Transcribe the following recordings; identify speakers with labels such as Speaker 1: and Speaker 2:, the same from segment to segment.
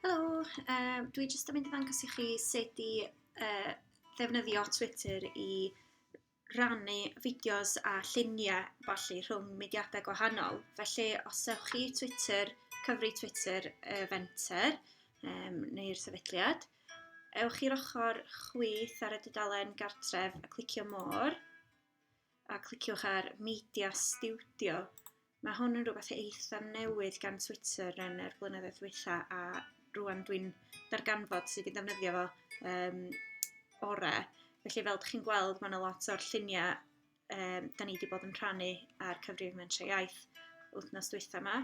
Speaker 1: Helo, uh, dwi jyst yn mynd i ddangos i chi sut i uh, ddefnyddio Twitter i rannu fideos a lluniau falle rhwng mudiadau gwahanol. Felly, os ewch chi Twitter, cyfri Twitter y uh, fenter um, neu'r sefydliad, ewch i'r ochr chwith ar y dudalen gartref a clicio môr. a cliciwch ar Media Studio. Mae hwn yn rhywbeth eitha newydd gan Twitter yn yr blynyddoedd dwytha a rwan dwi'n darganfod sydd wedi defnyddio fo um, ore. Felly fel ydych chi'n gweld mae yna lot o'r lluniau um, da ni wedi bod yn rhannu ar cyfrif Mentrau Iaith wythnos dwytha yma.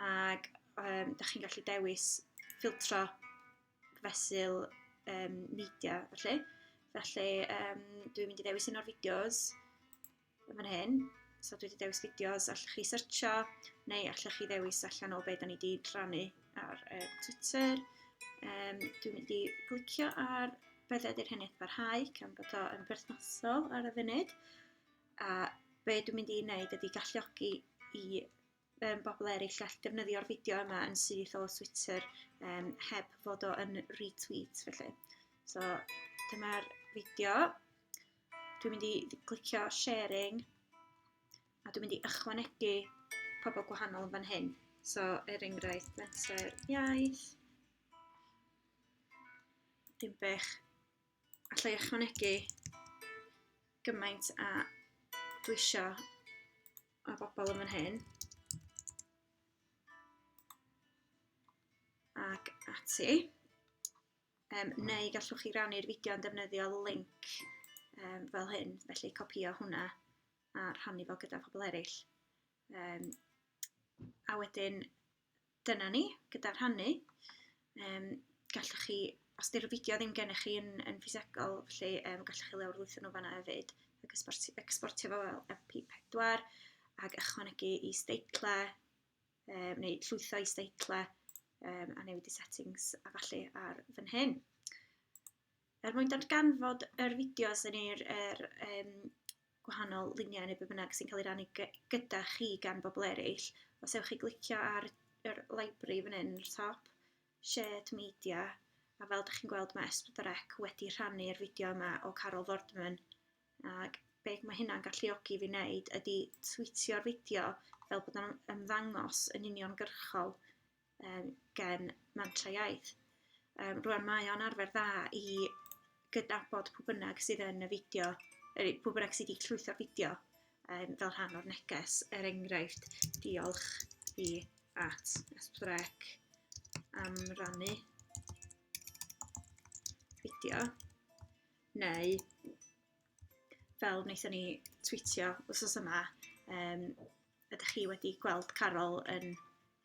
Speaker 1: Ac um, da chi'n gallu dewis ffiltro fesul um, media, felly. Felly, um, dwi'n mynd i ddewis un o'r fideos yn fan hyn. So dwi wedi dewis fideos, allwch chi searcho, neu allwch chi ddewis allan o beth da ni wedi rhannu ar uh, Twitter. Um, dwi'n mynd i glicio ar beth ydy'r hyn eithaf rhai, cam bod o yn berthnasol ar y funud. A be dwi'n mynd i wneud ydy galluogi i um, bobl eraill all defnyddio'r fideo yma yn syth o Twitter um, heb fod o yn retweet felly. So dyma'r fideo. Dwi'n mynd i glicio sharing a dwi'n mynd i ychwanegu pobl gwahanol yn fan hyn. So er enghraifft menter iaith. Dim bech. Alla i ychwanegu gymaint a dwi eisiau a bobl yn fan hyn. Ac ati. Um, neu gallwch chi rannu'r fideo yn defnyddio link um, fel hyn, felly copio hwnna a rhannu fo gyda phobl eraill. Um, a wedyn dyna ni, gyda rhannu. Um, gallwch chi, os di'r fideo ddim gennych chi yn, yn ffisegol, felly um, gallwch chi lawr lwytho nhw fanna hefyd, ac exportio, exportio fo fel MP4, ac ychwanegu i steitle, um, neu llwytho i steitle, um, a newid i settings a falle ar fan hyn. Er mwyn darganfod yr fideos yn yr, yr um, gwahanol luniau neu beth bynnag sy'n cael ei rannu gyda chi gan bobl eraill, os ewch chi glicio ar yr library fan hyn, yr top, shared media, a fel ydych chi'n gweld mae Esbydrec wedi rhannu'r fideo yma o Carol Fordman, ac beth mae hynna'n galluogi fi wneud ydy twitio'r fideo fel bod o'n ymddangos yn uniongyrchol um, gen Mantra Iaith. Um, rwan mae o'n arfer dda i gydnabod pwy bynnag sydd yn y fideo, er, pwy bynnag sydd wedi llwytho'r fideo um, fel rhan o'r neges. Er enghraifft, diolch i at Esbrec am rannu fideo neu fel wnaethon ni tweetio wrth yma um, ydych chi wedi gweld Carol yn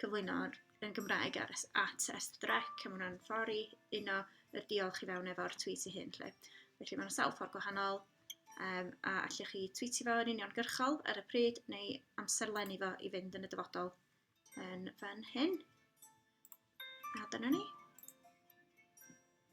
Speaker 1: cyflwyno yn Gymraeg ar, at Estbrec, a mae hwnna'n ffordd i uno y diolch i fewn efo'r tweet i hyn. Lle. Felly mae'n sawl ffordd gwahanol, um, a allwch chi tweetio fo yn union gyrchol ar y pryd, neu amserlennu fo i fynd yn y dyfodol yn fan hyn. A dyna ni.